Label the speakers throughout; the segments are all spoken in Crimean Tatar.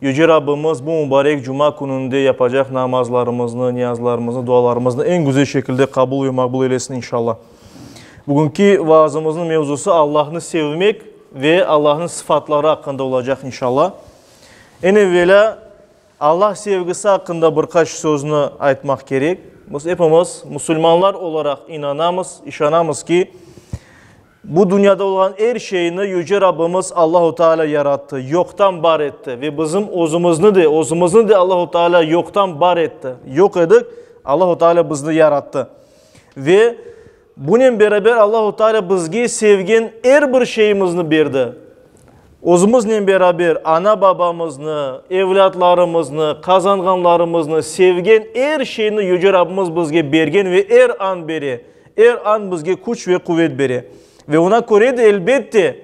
Speaker 1: Yüce Rabbimiz bu mubarek cuma kününde yapacaq namazlarımıznı, niyazlarımıznı, dualarımıznı eñ güzel şekilde qabul ve maqbul eylesin, inşallah. Bugünki vaazımıznıñ mevzusı Allahnı sevmek ve Allahnıñ sıfatları aqqında olacaq, inşallah. Eñ evvelâ Allah sevgisi aqqında bir qaç sözni aytmaq kerek. Biz epimiz musulmanlar olaraq inanamız, işanamız ki, Bu dünyada olğan er şeyni Yüce Rabbimiz Allahu Teala yarattı, yoqtan bar etti ve bizim özümizni de, özümizni de Allahu Teala yoqtan bar etti. Yoq edik, Allahu Teala bizni yarattı. Ve bunen beraber Allahu Teala bizge sevgen er bir şeyimizni berdi. Özümiznen beraber ana-babamıznı, evlâtlarımıznı, qazanğanlarımıznı, sevgen er şeyni Yüce Rabbimiz bizge bergen ve er an bere. Er an bizge küç ve quvet bere. Ve oña köre de, elbette,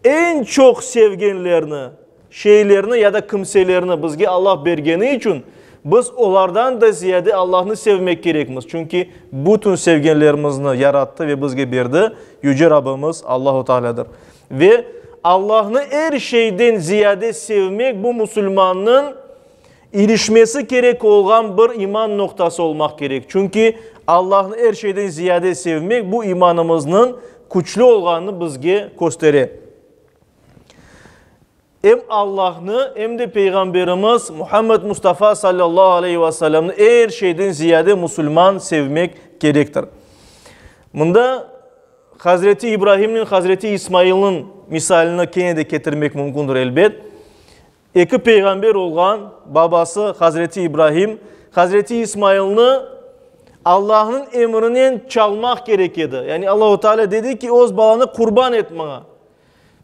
Speaker 1: eñ çoq sevgenlerni, şeylerni ya da kimselerni bizge Allah bergeni içün, biz olardan da ziyade Allahnı sevmek kerekmiz. Çünki bütün sevgenlerimizni yarattı ve bizge berdi Yüce Rabbimiz Allahu Tealâdır. Ve Allahnı er şeyden ziyade sevmek, bu, musulmannıñ, İrişmesi kerek olğan bir iman noqtası olmaq kerek, çünki Allahnı er şeyden ziyade sevmek bu imanımıznıñ küçlü olğanını bizge köstere. Em Allahnı, em de Peyğamberimiz Muhammed Mustafa sallallahu aleyhi ve sellemni er şeyden ziyade musulman sevmek kerektir. Mında Hazreti İbrahimnen Hazreti İsmailniñ misalini kene de ketirmek mümkündir, elbet. Eki peyğamber olğan babası hazreti İbrahim, hazreti İsmailni Allahnıñ emrinen çalmaq kerek edi. Yani Allahu Teala dedi ki, öz balanı qurban et maña.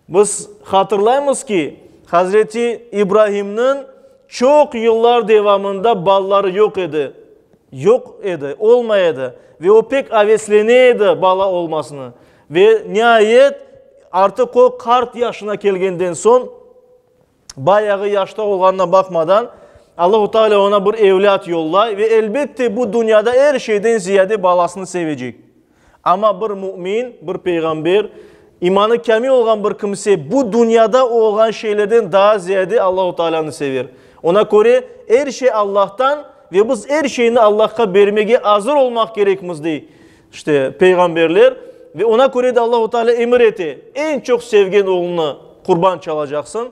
Speaker 1: Biz hatırlaymız ki, hazreti İbrahimniñ çoq yıllar devamında balaları yoq edi. Yoq edi, olmay edi. Ve o pek aveslene edi bala olmasını. Ve niayet, artıq o qart yaşına kelgenden soñ Bayağı yaşta olğanına baqmadan, Allahu Teala oña bir evlât yollay ve, elbette, bu dünyada er şeyden ziyade balasını sevecek. Amma bir mümin, bir peyğamber, imanı kâmil olğan bir kimse bu dünyada olğan şeylerden daa ziyade Allahu Teala'nı sever. Oña köre, er şey Allahtan ve biz er şeyni Allahqa bermege azır olmaq kerekmiz, dey İşte, peyğamberler, ve oña köre de Allahu Teala emir ete, eñ çoq sevgen oğlunı qurban çalacaqsıñ.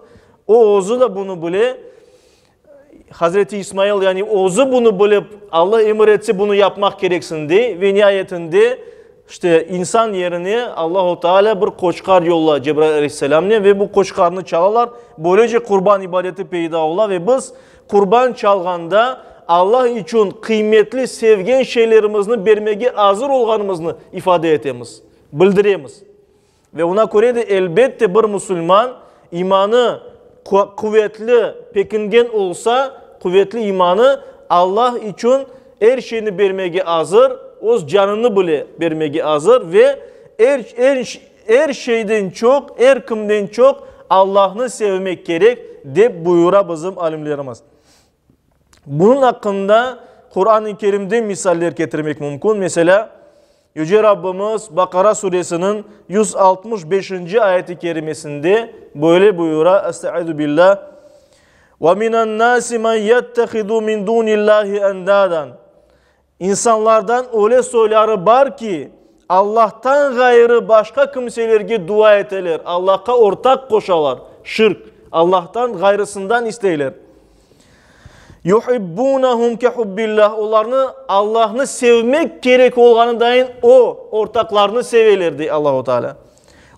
Speaker 1: O, özü de bunı bile, Hazreti İsmail, yani özü bunı bilip, Alla emir etse, bunı yapmaq kereksiñ, dey. Ve niayetinde, işte, insan yerine Allahu Teala bir qoçqar yollay Cebrail Aleyhisselamnen, ve bu qoçqarnı çalalar. Böylece qurban ibadeti peyda ola, ve biz Qurban çalğanda Alla içün qıymetli, sevgen şeylerimizni bermege azır olğanımıznı ifade etemiz, bildiremiz. Ve oña köre de, elbette, bir musulman imanı quvetli, pekingen olsa, quvetli imanı Alla içün er şeyni bermege azır, öz canını bile bermege azır ve er Er şeyden çoq, er kimden çoq Allahnı sevmek kerek, dep buyura bizim alimlerimiz. Bunıñ aqqında Quran-ı Kerimden misaller ketirmek mümkün. Meselâ, Yüce Rabbimiz Baqara suresiniñ yüz altmış beşinci ayet-i kerimesinde böyle buyura, Estaizu billâh, Ve minennâsi men yettehidû min dûnillâhi endâden. İnsanlardan öyle soyları bar ki, Allahtan ğayrı başqa kimselerge dua eteler, Allahqa ortaq qoşalar, şirk, Allahtan ğayrısından isteyler. Yuhibbunahum ke hubbillah, olarnı Allahnı sevmek kerek olğanıdain o, ortaqlarnı seveler, dey Allahu Teala.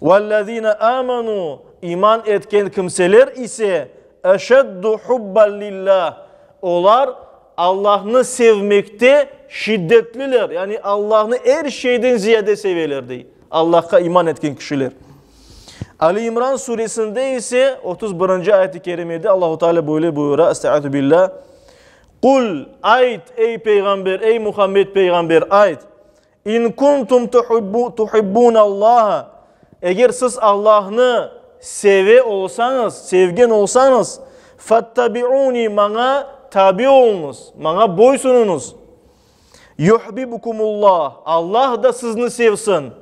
Speaker 1: Vellezine amenu, iman etken kimseler ise, eşeddu hubban lillah, olar Allahnı sevmekte şiddetliler, yani Allahnı er şeyden ziyade seveler, dey Allahqa iman etken kişiler. Ali İmran suresinde ise otuz birinci ayet-i kerimede Allahu Teala böyle buyura, Estaizu billah, Qul, ayt, ey Peyğamber, ey Muhammed Peyğamber, ayt, İn kuntum tuhibbunallâhe, eger siz Allahnı seve olsañız, sevgen olsañız, fettabi'ûni, maña tabi oluñız, maña boysunuñız, yuhbibukumullah, Allah da sizni sevsin.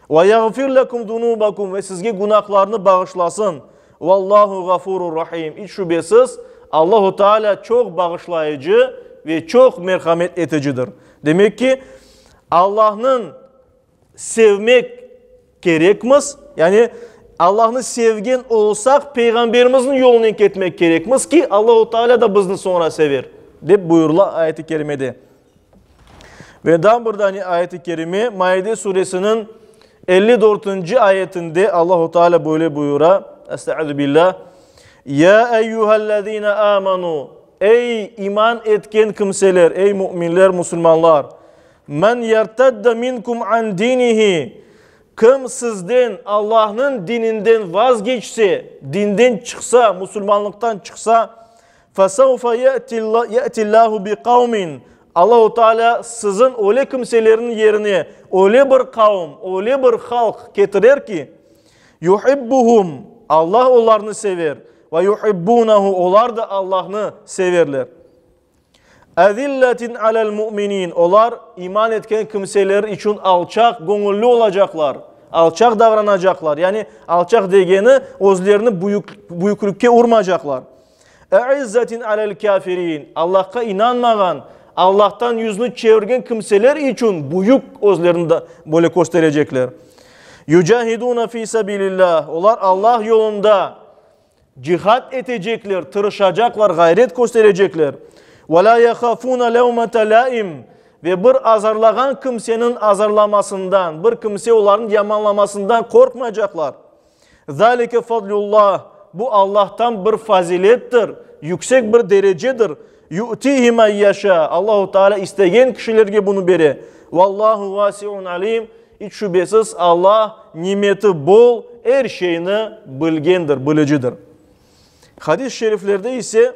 Speaker 1: Ve yağfir lekum zunubakum ve sizge günahlarnı bağışlasın. Vallahu gafurur rahim. İç şübesiz, Allahu Teala çoq bağışlayıcı ve çoq merhamet eticidir. Demek ki, Allahnıñ sevmek kerekmiz, yani Allahnı sevgen olsaq, Peyğamberimizniñ yolunen ketmek kerekmiz ki, Allahu Teala da bizni soñra sever, dep buyurıla ayet-i kerimede. Ve daa bir dane ayet-i kerime, Maide suresiniñ elli dörtünci ayetinde Allahu Teala böyle buyura, Estağfirubillah, Ya eyyuhellezine amenu, ey iman etken kimseler, ey müminler, musulmanlar, men yertedde minkum an dinihi, kim sizden Allahnıñ dininden vazgeçse, dinden çıqsa, musulmanlıqtan çıqsa, Fesevfe ye'tillâhu bi kavmin, Allahu Teala siziñ öyle kimselerniñ yerine öyle bir kavm, öyle bir halq ketirer ki, yuhibbuhum, Allah olarnı sever, ve yuhibbunehu, olar da Allahnı severler. Ezilletin alel mu'minin, olar iman etken kimseler içün alçaq göñülli olacaqlar, alçaq davranacaqlar, yani alçaq degeni, özlerini büyüklükke urmacaqlar. E'izzetin alel kâfirin, Allahqa inanmağan, Allahtan yüznü çevirgen kimseler içün büyük özlerini da böyle kösterecekler. Yücahiduna fi sabilillah, olar Allah yolunda cihad etecekler, tırışacaqlar, ğayret kösterecekler. Ve la yahafuna levmete laim, ve bir azarlağan kimsenin azarlamasından, bir kimse olarnı yamanlamasından qorqmaycaqlar. Zâlike fadlullah, bu Allahtan bir fazilettir, yüksek bir derecedir, yu'tihi men yeşâ, Allahu Teâlâ istegen kişilerge bunı bere, Vallahu vasi'un alim, iç şübesiz Allah nimeti bol, er şeyni bilgendir, bilicidir. Hadis-i şeriflerde ise.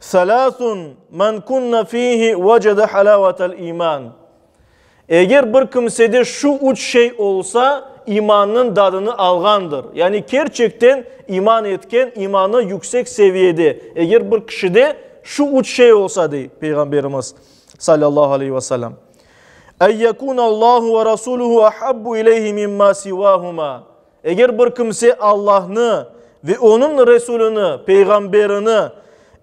Speaker 1: Selâsun men kunne fihi vecede halâvetel iman, Eger bir kimsede şu üç şey olsa, imannıñ dadını alğandır. Yani kerçekten iman etken, imanı yüksek seviyede, eger bir kişide şu üç şey olsa, dey Peyğamberimiz, salâllahu aleyhi ve selâm, En yekûnallâhu ve rasûluhu ahabbu ileyhi mimmâ sivâhumâ, Eger bir kimse Allahnı ve Onıñ Resulini, peyğamberini,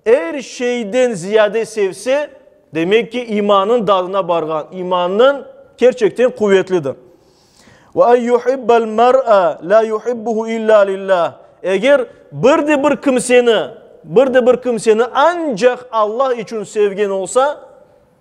Speaker 1: er şeyden ziyade sevse, demek ki, imanın dadına barğan, imanın kerçekten quvetlidir. Ve en yuhibbel mer'a la yuhibbuhu illa lillah. Eger bir de bir kimseni, bir de bir kimseni ancaq Allah içün sevgen olsa,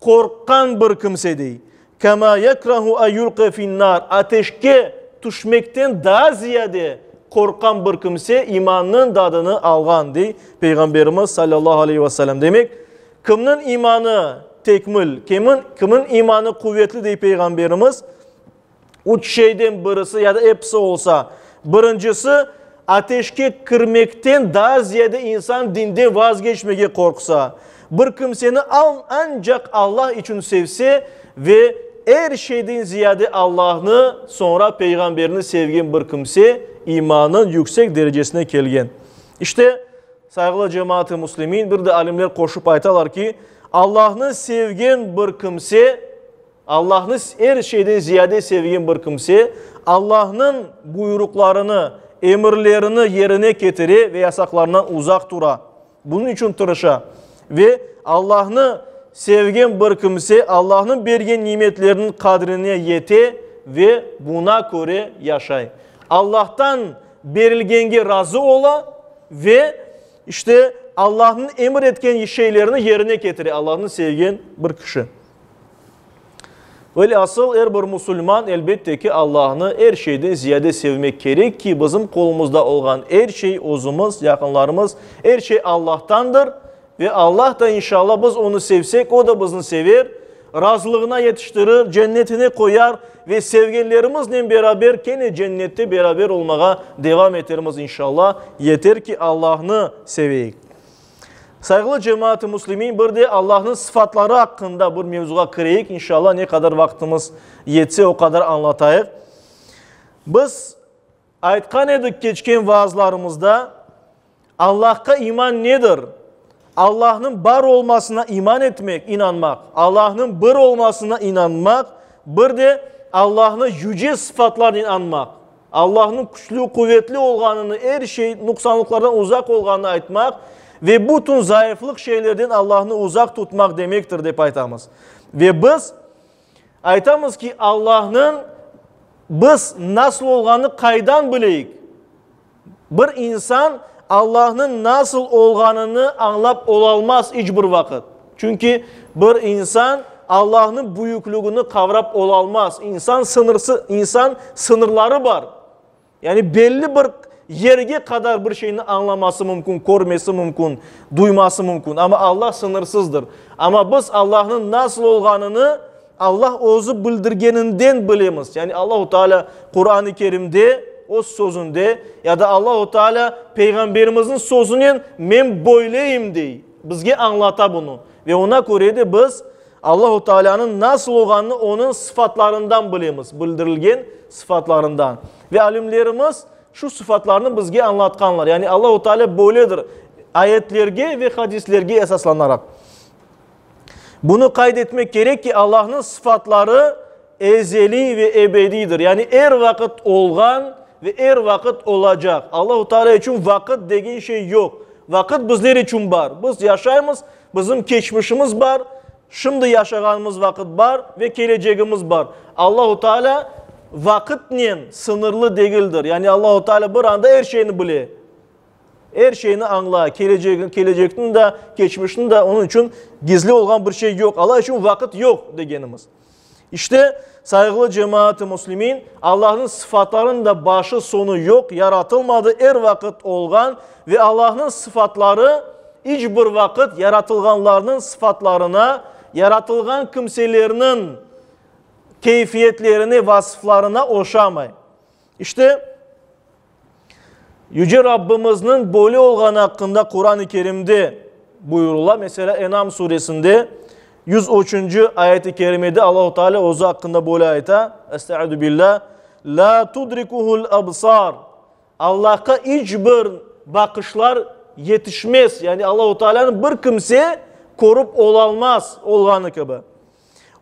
Speaker 1: Qorqqan bir kimsedey, kâmâ yekrahu en yulqa fin-nâr, ateşke tüşmekten daa ziyade qorqqan bir kimse imannıñ dadını alğan, dey Peyğamberimiz sallallahu aleyhi ve sellem. Demek, kimniñ imanı tekmil, kimiñ, kimiñ imanı quvetli, dey Peyğamberimiz, Üç şeyden birisi ya da episi olsa, birincisi, ateşke kirmekten daa ziyade insan dinden vazgeçmege qorqsa, bir kimseni ancaq Allah içün sevse ve er şeyden ziyade Allahnı, soñra Peyğamberini sevgen bir kimse imanın yüksek derecesine kelgen. İşte, sayğılı cemaat-ı muslimin, bir de alimler qoşup aytalar ki, Allahnı sevgen bir kimse, Allahnı er şeyden ziyade sevgen bir kimse, Allahnıñ buyuruqlarını, emirlerini yerine ketire ve yasaqlarından uzaq tura, bunıñ içün tırışa. Ve Allahnı sevgen bir kimse Allahnıñ bergen nimetleriniñ qadrine yete ve buna köre yaşay. Allahtan berilgenge razı ola ve işte Allahnıñ emir etken şeylerini yerine ketire, Allahnı sevgen bir kişi. Velhasıl, er bir musulman, elbette ki, Allahnı er şeyden ziyade sevmek kerek ki, bizim qolumızda olğan er şey, özümiz, yaqınlarımız, er şey Allahtandır ve Allah da, inşalla, biz Onı sevsek, O da bizni sever, razılığına yetiştirir, cennetine qoyar ve sevgenlerimiznen beraber kene cennette beraber olmağa devam etermiz, inşalla. Yeter ki, Allahnı seveyik. Sayğılı cemaat-ı muslimin, bir de Allahnıñ sıfatları aqqında bir mevzuğa kireyik, inşallah, ne qadar vaqtımız yetse, o qadar añlatayıq. Biz aytqan edik keçken vaazlarımızda, Allahqa iman nedir? Allahnıñ bar olmasına iman etmek, inanmaq, Allahnıñ bir olmasına inanmaq, bir de Allahnı yüce sıfatlarnen añmaq. Allahnıñ küçlü, quvetli olğanını, er şey, nuqsanlıqlardan uzaq olğanını aytmaq ve bütün zayıflıq şeylerden Allahnı uzaq tutmaq demektir, dep aytamız. Ve biz aytamız ki, Allahnıñ biz nasıl olğanını qaydan bileyik? Bir insan Allahnıñ nasıl olğanını añlap olalmaz iç bir vaqıt. Çünki bir insan Allahnıñ büyüklügini qavrap olalmaz. İnsan sıñırsı, insan sıñırları bar. Yani belli bir yerge qadar bir şeyni añlaması mümkün, körmesi mümkün, duyması mümkün. Amma Allah sıñırsızdır. Amma biz Allahnıñ nasıl olğanını Allah özü bildirgeninden bilemiz. Yani Allahu Teala Quran-ı Kerimde, öz sözünde ya da Allahu Teala Peyğamberimizniñ sözünen men böyleyim dey. Bizge añlata bunı. Ve oña köre de biz Allahu Taalânıñ nasıl olğanını onıñ sıfatlarından bilemiz, bildirilgen sıfatlarından. Ve alimlerimiz şu sıfatlarnı bizge añlatqanlar. Yani Allahu Taalâ böyledir, ayetlerge ve hadislerge esaslanaraq. Bunı qayd etmek kerek ki, Allahnıñ sıfatları, Ezeliy ve ebediydir, yani er vaqıt olğan ve er vaqıt olacaq. Allahu Teala içün vaqıt degen şey yoq. Vaqıt bizler içün bar. Biz yaşaymız, bizim keçmişimiz bar, şimdi yaşağanımız vaqıt bar ve kelecegimiz bar. Allahu Teala vaqıtnen sıñırlı degildir. Yani Allahu Teala bir anda er şeyni bile, er şeyni añla, kelecegin, kelecekniñ de, keçmişniñ de. Onıñ içün gizli olğan bir şey yoq. Alla içün vaqıt yoq degenimiz. İşte, sayğılı cemaat-ı muslimin, Allahnıñ sıfatlarınıñ da başı soñu yoq, yaratılmadı, er vaqıt olğan ve Allahnıñ sıfatları iç bir vaqıt yaratılğanlarnıñ sıfatlarına, yaratılğan kimselerniñ keyfiyetlerine, vasıflarına oşamay. İşte, Yüce Rabbimizniñ böyle olğanı aqqında Quran-ı Kerimde buyurıla. Meselâ, Enam suresinde yüz üçünci ayet-i kerimede Allahu Teala özü aqqında böyle ayta, Estaidu billâ, Lâ tudrikuhul absar. Allahqa iç bir baqışlar yetişmez. Yani Allahu Teala'nı bir kimse körip olalmaz olğanı kibi.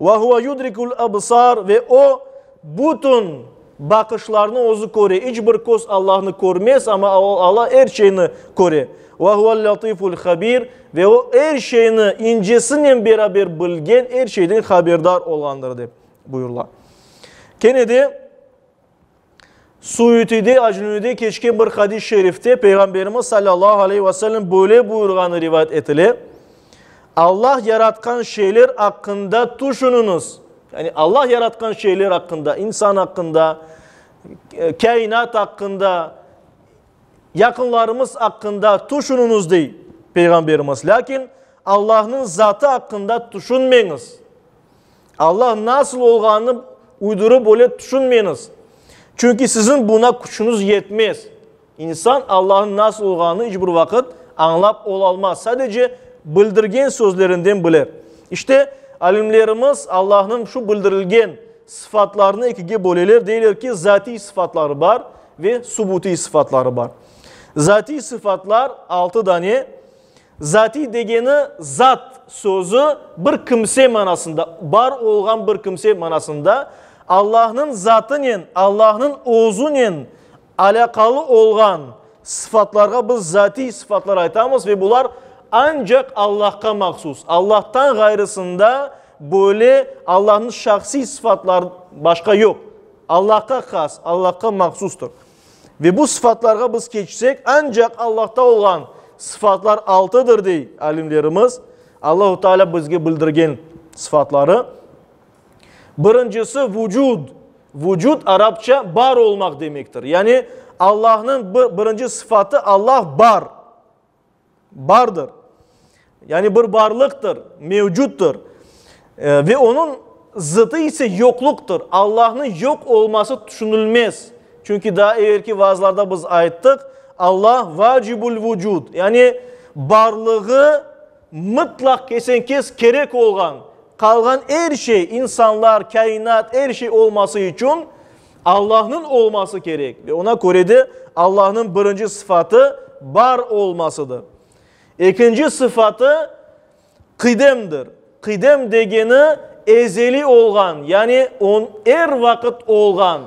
Speaker 1: Ve huve yudrikul ebsar ve o, bütün baqışlarnı özü köre. İç bir köz Allahnı körmez, amma Allah er şeyni köre. Ve huvel latiful habir ve o, er şeyni incisinen beraber bilgen, er şeyden haberdar olğandır, dep buyurıla. Kene de. Suitide, Aclunide keçken bir hadis şerifte Peyğamberimiz salâllahu aleyh ve sellem böyle buyurğanı rivayet etile, Allah yaratqan şeyler aqqında tüşüniñiz, yani Allah yaratqan şeyler aqqında, insan aqqında, kâinat aqqında, yaqınlarımız aqqında tüşüniñiz, dey Peyğamberimiz, lâkin Allahnıñ zatı aqqında tüşünmeñiz. Alla nasıl olğanını uydurıp öyle tüşünmeñiz. Çünki siziñ buña küçüñiz yetmez. İnsan Allanıñ nasıl olğanını iç bir vaqıt añlap olalmaz, sadece bildirgen sözlerinden biler. İşte, alimlerimiz Allanıñ şu bildirilgen sıfatlarını ekige böleler, deyler ki, zatiy sıfatları bar ve subutiy sıfatları bar. Zatiy sıfatlar altı dane, Zatiy degeni zat sözü bir kimse manasında, bar olğan bir kimse manasında, Allahnıñ zatınen, Allahnıñ özünen alâqalı olğan sıfatlarğa biz zatiy sıfatlar aytamız ve bular ancaq Allahqa mahsus. Allahtan ğayrısında böyle Allahnıñ şahsiy sıfatlar başqa yoq. Allahqa has, Allahqa mahsustır. Ve bu sıfatlarğa biz keçsek, ancaq Allahta olğan sıfatlar altıdır, dey alimlerimiz, Allahu Teala bizge bildirgen sıfatları. Birincisi, vucud. Vucud, arapça bar olmaq demektir. Yani Allahnıñ birinci sıfatı, Allah bar. Bardır. Yani bir barlıqtır, mevcuttır. Ve onıñ zıtı ise yoqluqtır. Allahnıñ yoq olması tüşünilmez. Çünki daa evelki vaazlarda biz ayttıq, Allah vacibul vucud, yani barlığı mıtlaq kesen-kes kerek olğan, qalğan er şey, insanlar, kâinat, er şey olması içün Allahnıñ olması kerek ve oña köre de Allahnıñ birinci sıfatı bar olmasıdır. Ekinci sıfatı qidemdir. Qidem degeni ezeli olğan, yani on er vaqıt olğan,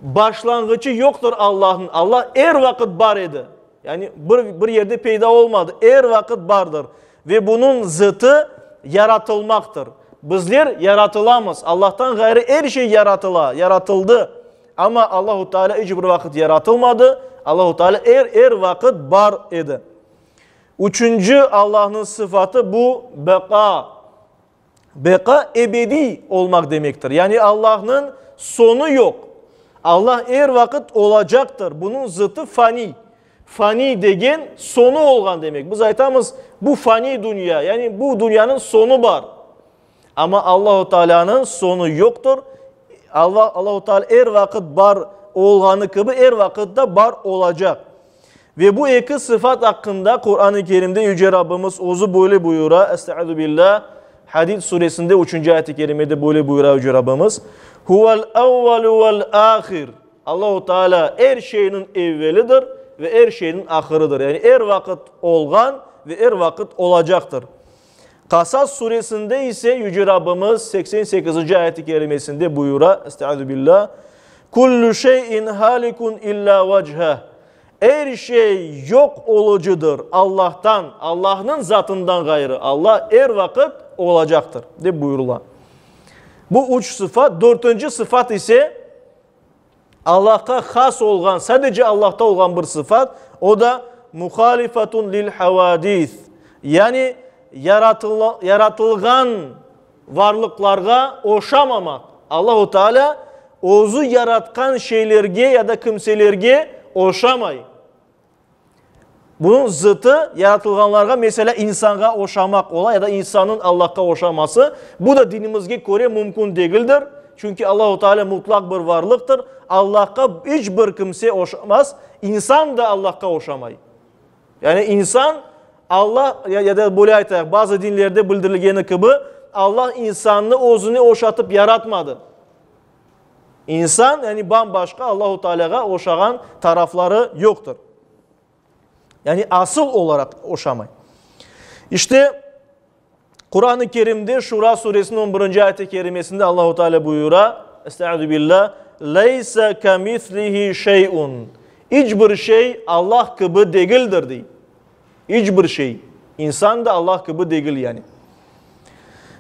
Speaker 1: başlanğıçı yoqtır Allahnıñ, Allah er vaqıt bar edi. Yani bir bir yerde peyda olmadı, er vaqıt bardır. Ve bunıñ zıtı yaratılmaqtır. Bizler yaratılamız, Allahtan ğayrı er şey yaratıla, yaratıldı. Amma Allahu Teala iç bir vaqıt yaratılmadı, Allahu Teala er er vaqıt bar edi. Üçünci Allahnıñ sıfatı bu, beqa. Beqa ebediy olmaq demektir, yani Allahnıñ soñu yoq. Allah er vaqıt olacaqtır, bunıñ zıtı faniy. Faniy degen soñu olğan demek. Biz aytamız, bu faniy dünya, yani bu dünyanıñ soñu bar. Amma Allahu Taalânıñ soñu yoqtır. Allahu Taala er vaqıt bar olğanı kibi, er vaqıt da bar olacaq. Ve bu eki sıfat aqqında Quran-ı Kerimde Yüce Rabbimiz Özü böyle buyura, Estağuzubillah, Hadid Suresinde üçünci ayet-i kerimede böyle buyura Yüce Rabbimiz, Huvel evvelu vel ahir, Allahu Teala er şeyniñ evvelidir ve er şeyniñ ahırıdır, yani er vaqıt olğan ve er vaqıt olacaqtır. Qasas suresinde ise Yüce Rabbimiz seksen sekizinci ayet-i kerimesinde buyura, Estağüzübillah, Küllü şey'in halikun illa vecheh, Er şey yoq olucıdır, Allah'tan, Allahnıñ zatından ğayrı, Allah er vaqıt olacaqtır, dep buyurula. Bu üç sıfat, dörtünci sıfat ise, Allahqa has olğan, sadece Allahta olğan bir sıfat, o da, muhalifatun lil-havadis, yani yaratılğan varlıqlarğa oşamamaq. Allahu Teala özü yaratqan şeylerge ya da kimselerge oşamay. Bunıñ zıtı, yaratılğanlarğa, meselâ, insanğa oşamaq ola ya da insannıñ Allahqa oşaması, bu da dinimizge köre mümkün degildir, çünki Allahu Teala mutlaq bir varlıqtır, Allahqa iç bir kimse oşamaz, insan da Allahqa oşamay. Yani insan, Allah, ya da böyle aytayıq, bazı dinlerde bildirilgeni kibi, Allah insannı özüne oşatıp yaratmadı. İnsan, yani bam-başqa Allahu Tealâğa oşağan tarafları yoqtır. Yani asıl olaraq oşamay. İşte Kur'an-ı Kerim'de Şura suresinin 11. ayet-i kerimesinde Allahu Teala buyura, Estaizu billah, Leysa kamislihi şey'un. İç bir şey Allah kibi degildir, dey. İç bir şey, insan da Allah kibi degil yani.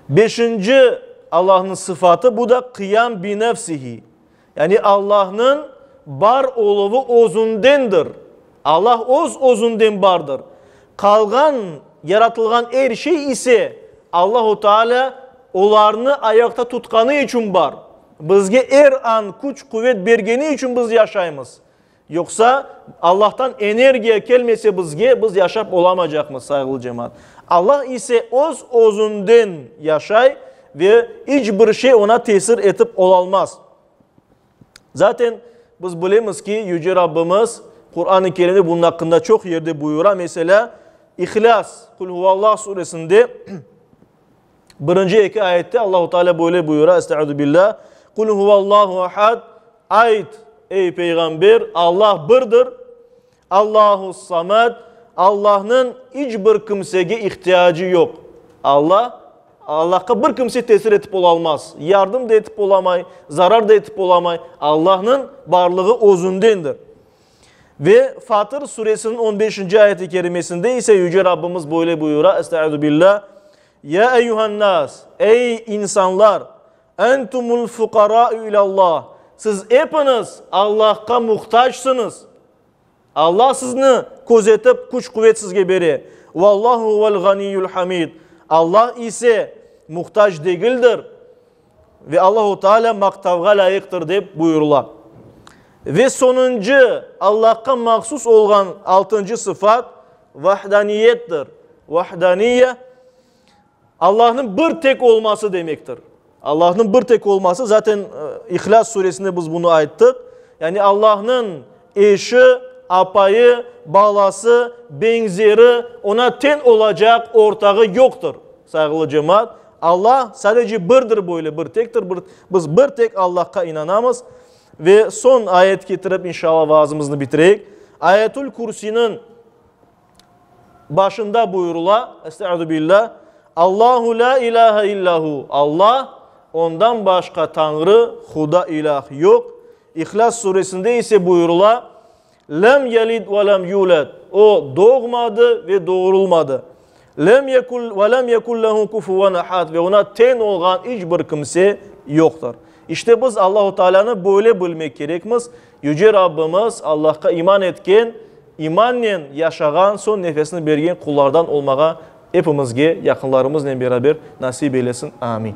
Speaker 1: Beşinci Allahnıñ sıfatı, bu da qıyam bi nefsihi, yani Allahnıñ bar oluvı özündendir. Allah öz özünden bardır. Qalğan, yaratılğan er şey ise Allahu Teala olarnı ayaqta tutqanı içün bar. Bizge er an küç-quvet bergeni içün biz yaşaymız. Yoqsa, Allahtan energiya kelmese bizge, biz yaşap olamacaqmız, sayğılı cemaat. Allah ise öz özünden yaşay ve iç bir şey Oña tesir etip olalmaz. Zaten biz bilemiz ki, Yüce Rabbimiz Quran-ı Kerimde bunun aqqında çoq yerde buyura. Meselâ, İhlas, Kul huvallah suresinde, Birinci eki ayette Allahu Teala böyle buyura, Estaizu billâh, Kul huvallahu ahad, Ayt, ey peyğamber, Allah birdir, Allahus samad, Allahnıñ iç bir kimsege ihtiyacı yoq. Allah, Allahqa bir kimse tesir etip ola almaz, yardım da etip olamay, zarar da etip olamay. Allahnıñ barlığı özündendir. Ve Fatır Suresiniñ on beşinci ayet-i kerimesinde ise Yüce Rabbimiz böyle buyura, Estaizubillah, Ya eyyuhannas, ey insanlar, entumul fuqarâ'u ilâllah, siz epiniz Allahqa muhtacısınız. Allah sizni közetip, küç-quvet sizge bere. Vallahu huvel ganiyyul hamid. Allah ise muhtac degildir. Ve Allahu Teala maqtavğa lâyıqtır dep buyurıla. Ve sonuncu, Allahqa mahsus olğan altıncı sıfat, vahdaniyettir. Vahdaniyye, Allahnıñ bir tek olması demektir. Allahnıñ bir tek olması, zaten İhlas Suresinde biz bunı ayttıq. Yani Allahnıñ eşi, apayı, balası, beñzeri, Oña teñ olacaq ortağı yoqtır, sayğılı cemaat. Alla sadece birdir, böyle bir tektir, bir, biz bir tek Allahqa inanamız. Ve soñ ayet ketirip, inşalla, vaazımıznı bitireyik. Ayetül Kürsiniñ başında buyurula, Estaizu billah, Allahu la ilahe illa hu, Alla, ondan başqa tañrı, huda, ilâh, yoq. İhlas suresinde ise buyurula, Lem yelid ve lem yulad, O doğmadı ve doğurulmadı. Lem yekun ve lem yekun lehu kufuven ahad, ve oña teñ olğan iç bir kimse yoqtır. İşte biz Allahu Tealânı böyle bilmek kerekmiz, Yüce Rabbimiz Allahqa iman etken, imannen yaşağan, soñ nefesini bergen qullardan olmağa epimizge, yaqınlarımıznen beraber nasip eylesin. Amin.